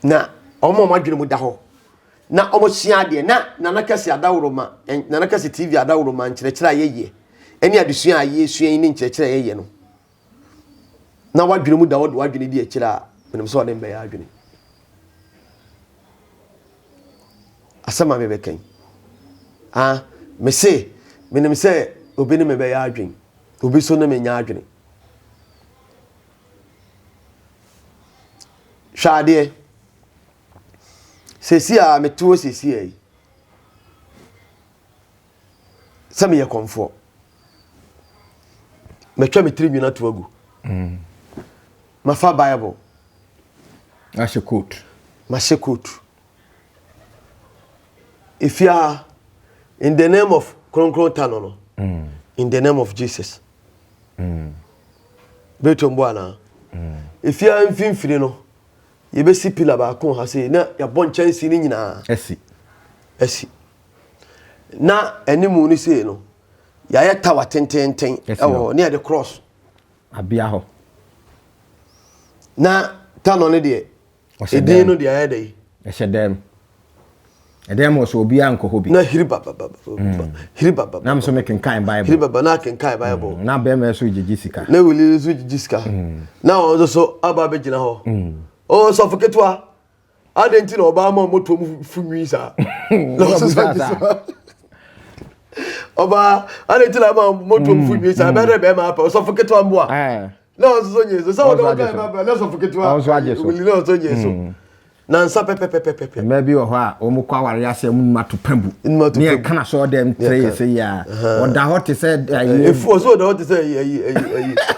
Na wɔn a wɔn adwene mu da hɔ na wɔn sua adeɛ na nana kɛse adaworo ma nana kɛse tv adaworo ma nkyerɛkyerɛ a yɛyɛ ɛne adesua a yɛsua yi ne nkyerɛkyerɛ a yɛyɛ no. na w'adwene mu da hɔ de w'adwene di akyire a menim sɛ ɔne mbɛyɛ adwene asɛm a mebɛka yi ah mese menim sɛ obi ne mebɛyɛ adwene obi so ne menyɛ adwene hwɛ adeɛ sɛsi a meteɔ sɛsi a yi sɛ meyɛ kɔmfoɔ matwa me tiri nwini ato agu mm. mafa bible ahyɛ coat mahyɛ coat ɛfia in the name of kronkron ta no no mm. in the name of jesus mm. bɛtɔm bo anaa ɛfia mm. mfimfini no yɛbɛsi pila baako ha sei na yɛabɔ nkyɛnse no nyinaa asi asi na animu no sei no yɛayɛ tawa tententen ɛwɔ hɔ ne yɛde cross abea hɔ na tanɔ no deɛ ɛdin no deɛ ayɛ dɛ yi ɛhyɛ dɛm ɛdɛm wɔ so obiara nkɔ hɔ bi na hiri bababa mm. hiri bababa na mso mekenkan bible hiri bababa na akenkan bible mm. na bɛrima nso gyegye sika na wuli nso gyegye sika mm. na wɔn nso so aba abɛgyina hɔ ɔsɔfo ketewa adɛn nti na ɔbaa ama ɔmɔtoɔ mu fu nwii saa na ɔsesa nti so ɔbaa adɛn nti na ama ɔmɔtoɔ mu fu nwii saa bɛdɛ bɛrima apɛ ɔsɔfo ketewa mboa na ɔsoso nye so sɛ ɔdɔ ɔdɔ ɛma bra na ɔsɔfo ketewa wuli na ɔsoso nye so nansa pɛpɛpɛpɛpɛ. mmaa bi wɔ hɔ a wɔn kɔ awari ase wɔn numa to pɛn bu ne yɛ kana sɔɔ dɛm tire yɛ sɛ yia ɔda hɔ te sɛ ɛyɛ efu ɔsɛ ɔda hɔ te sɛ ɛyɛ ɛyɛ ɛyɛ.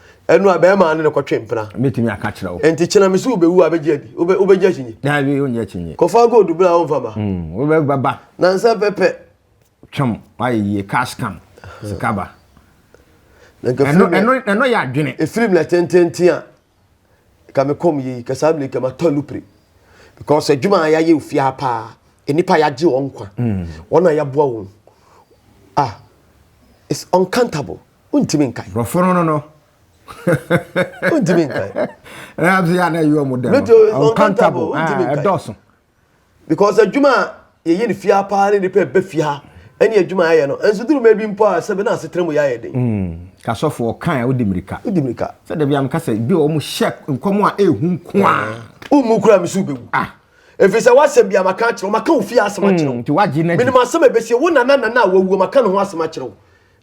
Ɛnu a bɛɛma ne no kɔtwe mpena. Mɛtumi aka kyerɛ wo. Nti kyena me so wobɛwu a bɛgye adi. Wobɛgye akyinye. Daabi wonye akyinye. Kɔfa gold bra a wonfa ma. Mm, wobɛba. Nansa pɛpɛ. Twam, wayɛ yie, cash come, sika ba. Ɛno yɛ adwene. Ɛfirim na tententen a ka me kɔm yei ka saa mmerɛ kama tɔ lupre because adwuma a yɛayɛ ofie ha paa nnipa yɛagye wɔn nkwa wɔn a yɛaboa wɔn ah it's uncountable. wontumi nkae. Bɔforo no no. wontumi nkae. ɛna nso yɛ a na ɛyɛ ɔmo dɛ no uncountable ɛdɔɔso. because adwuma a yɛyɛ no fie ha paa ne nipa ɛbɛ fie ha ɛne adwuma a yɛyɛ no nso duru mɛ bi mpo a sɛbi na asetena mu yɛ ayɛ den. Hmm. kasɔfo ɔkan a wodi mirika. wodi mirika. sɛ dabi ameka sɛ bi a wɔn hyɛ nkɔm a ehu nko a. umu kura mi so bɛ wu. ah efi sɛ wasɛm bi a maka akyerɛw maka wo fie asɛm akyerɛw. Hmm, nti wagye n'adi. minimu asɛm a ebesi wo nana nana a wawu maka ne ho asɛm akyerɛw.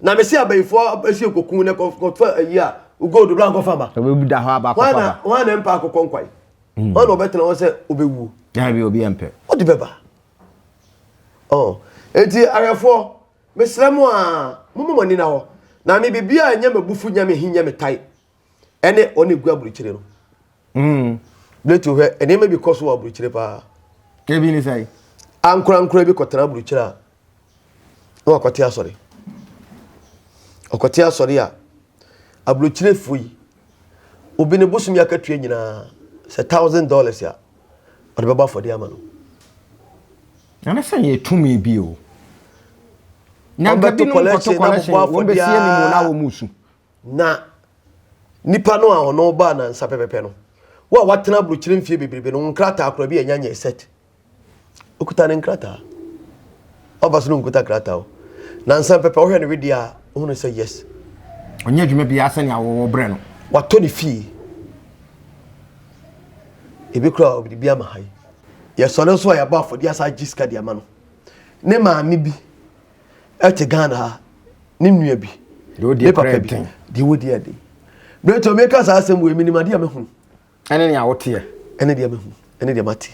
Na me se abayifoɔ asi okoku na kɔfa ayi a gold bra nkɔfa ma. Obebu da hɔ aba akɔfa ba. Hwan na ɛmpa akokɔ nkwan? Hmm. Hwan na ɔbɛtena hɔ sɛ ɔbɛwuo? Daabi obi ɛmpɛ. Ɔde bɛba. Oh. Enti awɛfoɔ mesrɛ mo a momma mo ani na hɔ. Na me biribiara nyɛ m'abufu nyɛ me he nyɛ me tae. ɛne ɔne gu aburukyire no mm. bɛtu hwɛ nneɛma bi kɔ so wɔ aburukyire paa ebi ne sɛe ankorankora bi kɔtena aburukyire a na wakɔte asɔre ɔkɔte asɔre a aburukyirefoɔ yi obi ne bosom yɛ akatua nyinaa sɛ thousand dollars a ɔde bɛbɔ afɔde ama no ɛne sɛ yɛ tumi bi o nyanka binom kɔto kɔlɛhyɛ wɔn bɛsie ne mu na wɔn mu su Na nipa no a ɔno baa nansa pɛpɛpɛ no, wo a watena aburokyire mfie bebrebe no, wo nkrataa koraa bi a ɛnya nyɛ set. Okuta ne nkrataa. Ɔba so no nkuta krataa o. Nansa pɛpɛ ɔhwɛ ne wedeɛ a, ohunu sɛ yes. Ɔnyɛ adwuma biara sɛnea wɔwɔ brɛ no. Watɔ ne fie. Ebi koraa ɔde bi ama ha yi. Yɛsɔre nso a yɛabɔ afɔdeɛ asa agye sika de ama no. Ne maame bi. ɛte ghana ha ne nua bi ne papa bi deɛ wɔdi ɛde berɛ tɔ meka saa asɛm wei menim adeɛ a mɛhunu ɛne nea woteɛ ɛne deɛ mɛhunu ɛne deɛ mate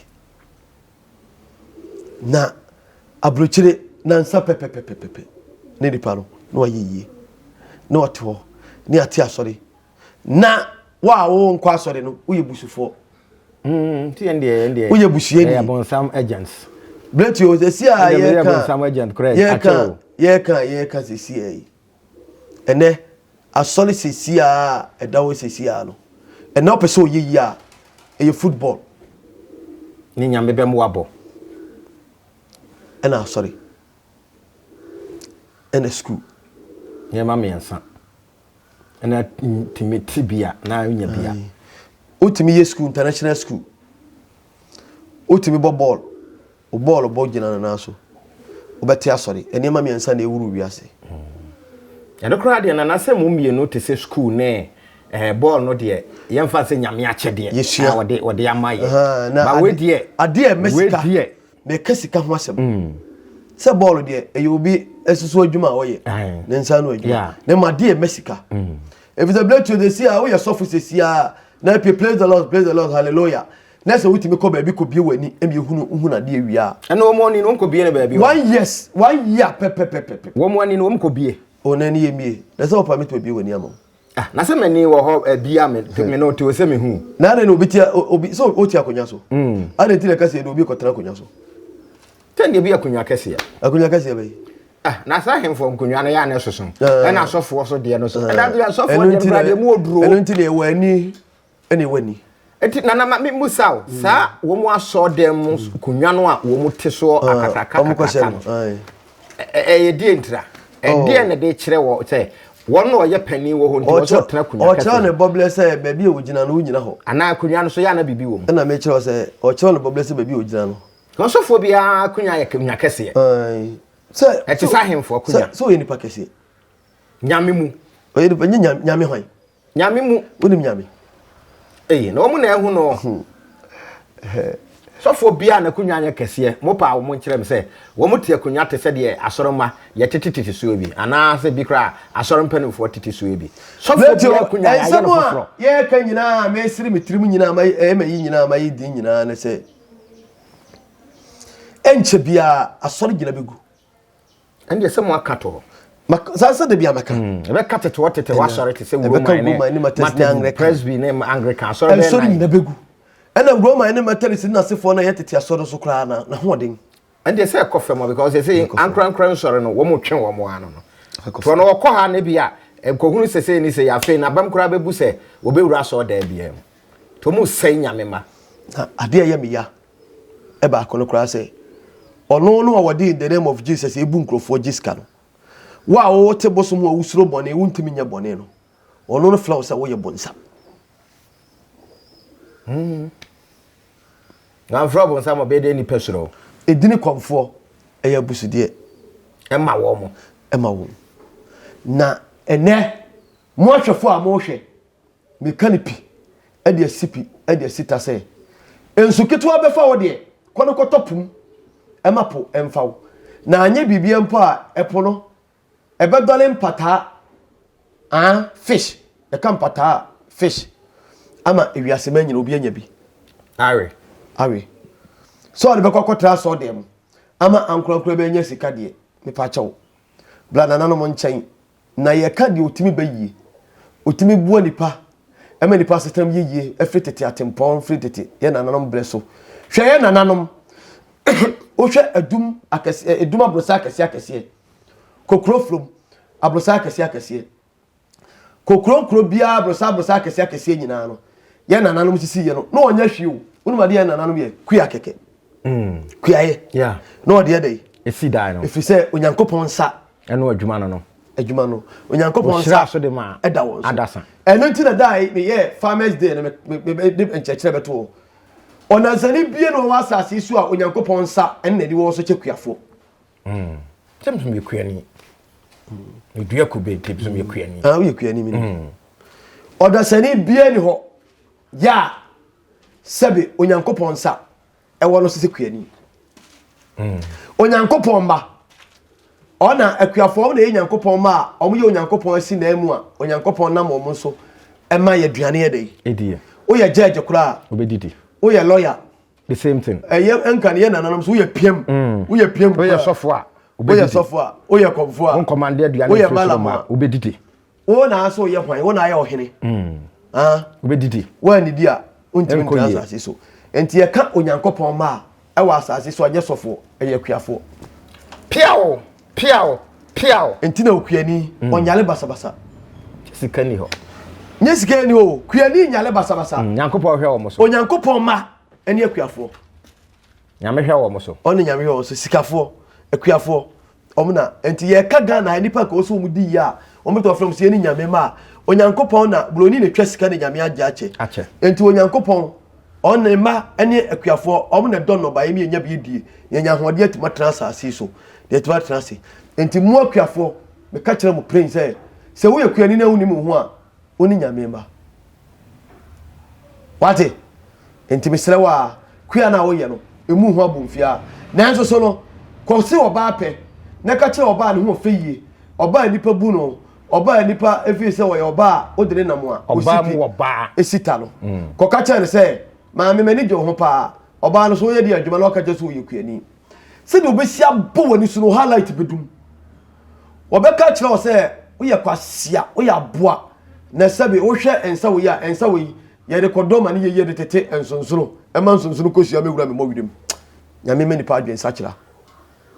na aburokyire nansa pɛpɛpɛpɛpɛ ne nipa no na wayɛ yie na ɔte hɔ ne ate asɔre na wo a wo nkɔ asɔre no woyɛ busufoɔ hmm, woyɛ busuani berɛti o sɛsi a yɛka yɛka yɛka sɛsi a yi ɛnɛ asɔre sɛsi a ɛda hɔ sɛsi a no ɛnɛ wopɛ sɛ ɔyɛ yi a ɛyɛ football ne nyame bɛm wabɔ ɛna asɔre ɛna school nneɛma mmiɛnsa ɛna tumi ti bi a na nya bi a. wotumi yɛ sukuu international sukuu wotumi bɔ bɔɔl o bɔɔl bɔ gyina no nan so wobɛte asɔre nneɛma mmiɛnsa na ɛwuru wiase hmm. ɛno koraa deɛ nana sɛ mo mmienu te sɛ sukuu ne eh, bɔɔl no deɛ yɛmfa sɛ nyame akyɛdeɛ yɛsua wɔde ama yɛ ba wedeɛ adeɛ mɛsika Mɛka sika ho asɛm. Mm. Sɛ bɔɔlo deɛ ɛyɛ obi asusu adwuma a ɔyɛ ne nsa no adwuma na ma deɛ mɛ sika. Mm. Efisɛ bere tuo de si a woyɛ sɔfo sɛ si a na ɛpɛ praise the lord praise the lord hallelujah na sɛ wotumi kɔ baabi kɔ bie w'ani ɛmi ehunu ehunu adeɛ wie a. Ɛna wɔn ani no wɔn kɔ bie no baabi. One years one year pɛpɛpɛpɛpɛ. Wɔn ani no wɔn kɔ bie. O na ɛni yɛ mie na sɛ wɔpa mi to bie w'ani ama. Ah, na sɛ m'ani wɔ hɔ eh, bia me, hmm. me no te sɛ mehu. Na adɛn na obi tia obi sɛ ɔtia akonnwa so? Hmm. Adɛn nti na ɛka sɛ ɛde obi kɔtena akonnwa so? Sɛ deɛ bi akonnwa kɛseɛ. Akonnwa kɛseɛ bɛyi. Ah, na saa ahemfo nkonnwa no yɛ anɛ soso. Ah. Ɛna asɔfoɔ so deɛ no so. Ɛda bi asɔfoɔ deɛ no kura deɛ mu oduro. Ɛno nti na ɛwɔ ani. Ɛne wani. Nti nana ma me musa wo, saa wɔn asɔɔ dɛm mu konwa no a wɔn te soɔ akakraka kakraka no, ɛyɛ deɛ ntira? Ɛdeɛ na de kyerɛ wɔ sɛ wɔn na ɔyɛ panin wɔ hɔ nti wɔn sɛ ɔtena konwa kɛse no? Ɔkyerɛ ne bɔblɛ sɛ baabi a ɔgyina no wogyina hɔ. Anaa konwa no so yɛ a na biribi wɔ mu? Ɛna me kyerɛ wo sɛ ɔkyerɛ ne bɔblɛ sɛ baabi a ɔgyina no. Na ɔsɔfoɔ biara konwa yɛ konwa kɛseɛ. Sɛ. Ɛte sɛ ahemfoɔ konwa. Sɛ ɔyɛ nipa kɛseɛ. Nyame mu. Ɔyɛ nipa, nyɛ nyame hwan? Nyame mu. Wonim Nyame. Eye, na wɔn na ɛho no. Hmm. Sɔfoɔ biara n'akonnwa nyɛ kɛseɛ, mopaa wɔn nkyerɛ me sɛ wɔn te akonnwa te sɛ deɛ asɔremma yɛtete tete soɔ bi, anaasɛ bi koraa asɔre mpanimfoɔ tete soɔ bi. Sɔfoɔ biara akonnwa yɛayɛ no foforɔ. Yɛreka nyinaa, mɛsiri me tirim nyinaa, ɛyɛ ma yi nyinaa, ma yi din nyinaa ne sɛ, ɛnkyɛ biara asɔre gyina bɛgu. ɛnde ɛsɛ mo aka to hɔ saa sɛ dabi a mɛka hmm, ɛbɛka tetewa tetewa asɔre te sɛ wuroman ne matɛsne presby ne anglican asɔre bɛyɛ nan nyina bɛgu ɛna wuroman ne matɛris ne nasefoɔ no yɛ tete asɔre so koraa na na hoɔden ɛnde ɛsɛ ɛkɔ fam because ɛsɛ ankorankora nsɔre no wɔn twe wɔn ano no toɔ no wɔkɔ ha ne bi a nkɔhunu sese ne sɛ yɛafei na bɛm koraa bɛbu sɛ wɔbɛwura asɔre daa biara mu to mu sɛe nyame ma adeɛ yɛ meya baako no koraa sɛ, Ɔno no a ɔde in the name of Jesus ebu nkurɔfoɔ gye sika no, wo a wote bosom a wosuro bɔne, wontumi nyɛ bɔne no, ɔno no frɛ wo sɛ woyɛ bonsam. Hmm. Na mfrɛ bonsam ɔbɛyɛ dɛ nipa suro. Edini kɔmfoɔ ɛyɛ abusudeɛ. Ɛma wɔn. Ɛma wɔn. Na ɛnɛ mo ahwɛfoɔ a mohwɛ Meka no pi de asi pi de asi ta sɛ, Nsu ketewa bɛfa wo deɛ, kɔ no kɔtɔ po mu. Ɛma po mfa wo. Na anyɛ biribiara mpo a, ɛpo no, ɛbɛdɔre mpataa, ah, fish, yɛka mpataa a, fish, ama ewiase ma nyina obi anya bi. Awe. Awe. Sɛ ɔde bɛkɔ akɔtra asɔɔdan mu ama ankorankora bɛnya sika deɛ, mepa kyɛw, bra nananom nkyɛn Na yɛka deɛ ɔtumi ba yie. Ɔtumi boa nnipa ma nnipa asetenam yɛ yie ɛfiri tete atempɔn firi tete yɛ nananom berɛ so. Hwɛ yɛ nananom, wohwɛ adum akɛseɛ, adum abrosɛ akɛseɛ akɛseɛ, kokuro from abrosɛ akɛseɛ akɛseɛ, kokuro nkuro biara abrosɛ abrosɛ akɛseɛ akɛseɛ nyinaa no, yɛ nananom sisi yɛ no, na ɔnyɛ hwee o, wonim adeɛ yɛ nananom yɛ? Kua kɛkɛ. Mm. Kuayɛ. Yeah. Na ɔde ɛdɛ yi. Esi dan no. Ɛfiri sɛ Onyankopɔn nsa Ɛno adwuma no no. Adwuma no. Onyankopɔn nsa so de ma ɛda wɔn so. Adasa. Ɛno nti na dae meyɛ farmers day no mede nkyerɛkyerɛ bɛto hɔ. Ɔnansani bie na ɔwɔ asase so a Onyankopɔn nsa ɛne n'ani wɔ so kyɛ kuafoɔ. Mm. Sɛ mesom yɛ kuani. Medua mm. kube nti mesom yɛ kuani. Ah, woyɛ kuani mi. Mm. Ɔdasani bie ni hɔ. Ya sɛbe Onyankopɔn nsa ɛwɔ no so sɛ kuani hmm. onyankopɔn mma ɔna akuafoɔ na ɛyɛ nyankopɔn ma a wɔyɛ onyankopɔn asi na mu a onyankopɔn nam wɔn so ɛma yɛ aduane yɛ dɛ woyɛ judge koraa woyɛ lawyer the same thing ɛyɛ nka ne yɛ nananom so woyɛ piam hmm. woyɛ piam woyɛ sɔfo a woyɛ sɔfo a woyɛ kɔmfo a woyɛ malam a wobɛdidi wo na asɛ ɔyɛ hwan wo na ayɛ ɔhene hmm. wobɛdidi woannidi a wontimi ntra asase so nti yɛka onyankopɔn mma a ɛwɔ asase so anyɛ sɔfoɔ ɛyɛ akuafoɔ piao piao piao nti na okuani hmm. ɔnyale basabasa sika ni hɔ nyɛ sika ni o kuani nyale basabasa hmm, onyankopɔn hwɛ wɔn so onyankopɔn mma ɛne akuafoɔ Nyame hwɛ wɔn so. Ɔne nyame hwɛ wɔn so sikafoɔ akuafoɔ wɔn na nti yɛka Ghana nipa ka wɔsɛ wɔn di yie a wɔn bɛtɔ afrɛ wɔn sɛ yɛne nyame ma a onyankopɔn na buroni na twa sika na nyame agye akyɛ akyɛ nti onyankopɔn ɔne ne mma ne akuafoɔ wɔn na dɔ nnɔba yɛn yɛnya bi die yɛnya ahoɔden atumi atena asase so deɛ atumi atena ase nti mu akuafoɔ meka kyerɛ mu plain sɛ sɛ woyɛ kuani na wonim wo ho a Wo ne Nyame mma. Wate? Enti mesrɛ wo a, kua no a woyɛ no, emu ho abomfiaa. Nanso so no, kɔ se ɔbaa pɛ, na ka kyerɛ ɔbaa a ne ho ɔfɛ yie, ɔbaa a nnipa bu no, ɔbaa a nnipa feel sɛ ɔyɛ ɔbaa a wode ne nam a osipi si ta no. Kɔka kyerɛ no sɛ, Maame, m'ani gye wo ho paa. Ɔbaa no, so woyɛ deɛ adwuma na waka kyerɛ sɛ woyɛ kuani? Sɛdeɛ wobɛsi abɔ w'ani so no, highlight bɛdum. Wɔbɛka akyerɛ wo sɛ woyɛ kwasia, woyɛ aboa, na sɛbe wohwɛ nsa wei a, nsa wei yɛde kɔdɔ ma ne yɛyɛ de tete nsonsono, ɛma nsonsono kɔsua mɛwura me mmɔwerɛ mu. Nyame ma nipa adwene sakyera.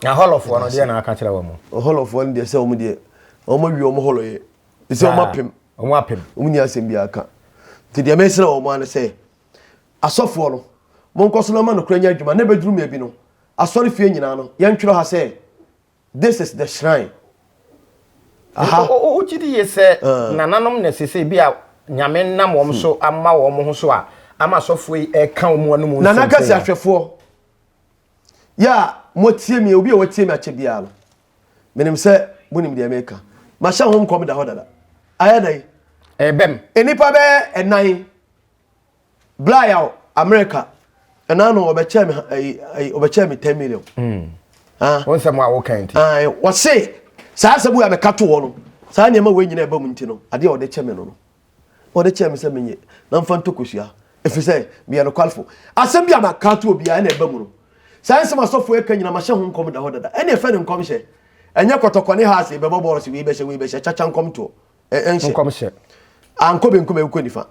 Na hɔlɔfoɔ no deɛ na aka kyerɛ wɔn? Hɔlɔfoɔ no deɛ sɛ wɔn deɛ wɔn awie wɔn hɔlɔyɛ. Ɛsɛ wɔn apem. Wɔn apem. Wɔn ni asɛm biara ka. Nti deɛ mesrɛ wɔn ara ne sɛ. Asɔfoɔ no, monkɔ so na ma nokorɛ nyɛ adwuma, na ɛbɛduru mmerɛ bi no, asɔrefie nyinaa no, yɛntwerɛ ha sɛ, This is the shrine. Aha. Nso wogye di yie sɛ nananom na seesei bi a Nyame nam wɔn so ama wɔn ho so a, ama asɔfoɔ yi reka wɔn anom nsɛm sɛi no. Nana Kɛse ahwɛfoɔ, yɛ a moatie me, obi a watie me akyɛ biara no, menim sɛ monim deɛ mereka. Mahyɛ ho nkɔm da hɔ dada. Ayɛ dɛn? Ɛrebɛm. Nnipa bɛyɛ ɛnan bla yaw america ɛna ano ɔbɛkyɛ me ayi ayi ɔbɛkyɛ me ten million. Hmm. Ah. wɔn nsɛm a wɔka nti. Ah, eh, wɔse saa asɛm a mɛka to wɔ no saa nneɛma wei nyina ɛba mu nti no adeɛ a ɔde kyɛ me no no ɔde kyɛ me sɛ menyɛ na mfa ntokosua ɛfiri sɛ meyɛ nokwalefo asɛm bi a maka to obiara ɛna ɛba mu no saa nsɛm asɔfoɔ ɛka nyina mahyɛ ho nkɔm da hɔ dada ɛne ɛfɛ ne nkɔmhyɛ ɛnyɛ kɔtɔkɔne ha ase bɛbɔ bɔɔl se wei bɛhyɛ wei bɛhyɛ kyakya nkɔm toɔ ɛnhyɛ nkɔmhyɛ ankɔ benkum ɛnkɔ nifa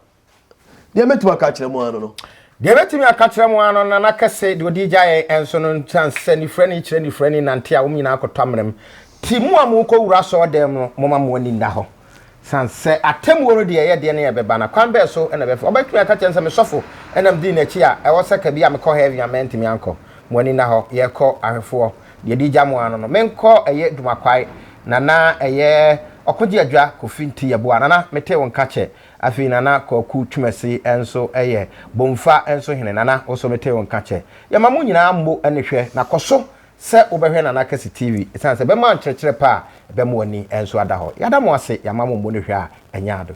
deɛ mɛtumi aka akyerɛ mu ano no deɛ mɛtumi aka kyerɛ mu ano na na kɛse deɛ ɔde gya yɛn ɛnso no ntan sɛ nifrani kyerɛ nifrani nante a wɔn nyinaa kɔtɔ amerɛm ti mu a mokɔ wura sɔɔ dɛm no moma mo ani nna hɔ san sɛ atemmuo no deɛ ɛyɛ deɛ ne ɛbɛba na kwan bɛɛ so na ɛbɛfa ɔbɛtumi aka kyerɛ sɛ mesɔfo ɛnam dii n'akyi a ɛwɔ sɛ kabi a mekɔ hɛɛvi a mɛntumi ankɔ mo ani nna hɔ yɛkɔ ahwɛfoɔ deɛ ɛdi gya mu ara no no, menkɔ ɛyɛ Dumakwae, Nana ɛyɛ Ɔkogye Adwa Kofi Nte Yeboah, Nana metee wo nka kyɛ, afei Nana Kwaku Twumasi nso ɛyɛ Bomfa nso hene, Nana wo nso metee wo nka kyɛ. Yɛma mo nyinaa mmɔ ani hwɛ na kɔ so sɛ wobɛhwɛ Nana Kɛse TV ɛsiane sɛ ɛbɛma nkyerɛkyerɛ pa a ɛbɛma w'ani nso ada hɔ. Yɛada mo ase, yɛama mo mmɔ ani hwɛ a ɛnyɛ ade.